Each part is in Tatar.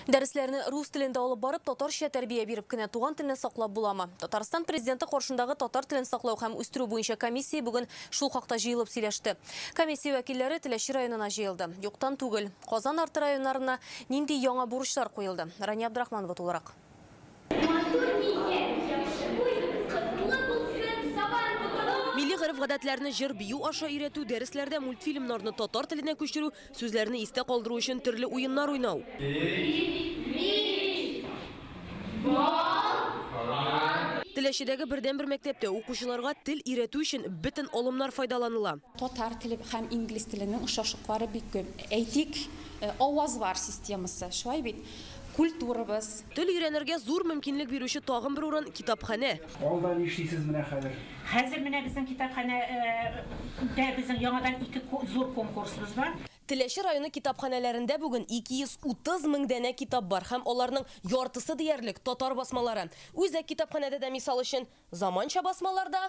Дәресләрне рус телендә алып барып, татарча тәрбия биреп кенә туган телне саклап буламы? Татарстан президенты каршындагы татар телен саклау һәм үстерү буенча комиссия бүген шул хакта җыелып сөйләште. Комиссия вәкилләре Теләче районына җыелды. Юктан түгел. Казан арты районнарына нинди яңа бурычлар куелды? Рания Абдрахманова тулырак. Матур нигез, яхшы буйгыз, котлы булсын Сабан туганы! Милли гореф-гадәтләрне җыр-бию аша өйрәтү, дәресләрдә мультфильмнарны татар теленә күчерү, сүзләрне истә калдыру өчен төрле уеннар уйнау. Мич. Бал. Теләчедәге бердәнбер мәктәптә укучыларга тел өйрәтү өчен бөтен алымнар файдаланыла. Татар теле һәм инглиз теленең ошашыклары бик күп. Әйтик, авазлар системасы, шулай бит? Культурабыз. Тел өйрәнергә зур мөмкинлек бирүче тагын бер урын, китапханә. Алда нишлисез менә хәзер? Хәзер менә безнең китапханә дә безнең яңадан ике зур конкурсыбыз бар. Теләче районы китапханәләрендә бүген 230 мең данә китап бар һәм аларның яртысы диярлек татар басмалары. Үзәк китапханәдә дә, мисал өчен, заманча басмалар да,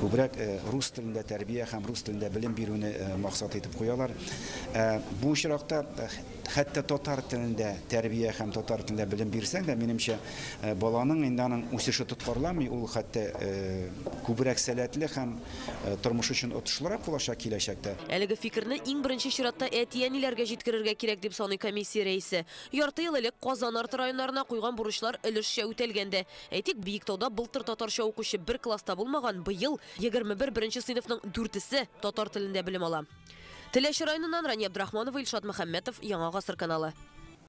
Күбрәк рус телендә тәрбия һәм рус телендә белем бирүне максат итеп куялар. Ә бу очракта хәтта татар телендә тәрбия һәм татар телендә белем бирсәң дә, минемчә, баланың инде аның үсеше тоткарламый, ул хәтта күбрәк сәләтле һәм тормыш өчен отышлырак булачак киләчәктә. Әлеге фикерне иң беренче чиратта әти-әниләргә җиткерергә кирәк, дип саный комиссия рәисе. Ярты ел элек Казан арты районнарына куйган бурычлар өлешчә үтәлгән дә. Әйтик, Биектауда былтыр татарча укучы бер класста булмаган, быел 21 беренче сыйныфның дүртесе татар телендә белем ала. Теләче районыннан Рания Абдрахманова, Илшат Мөхәммәтов, Яңа гасыр каналы.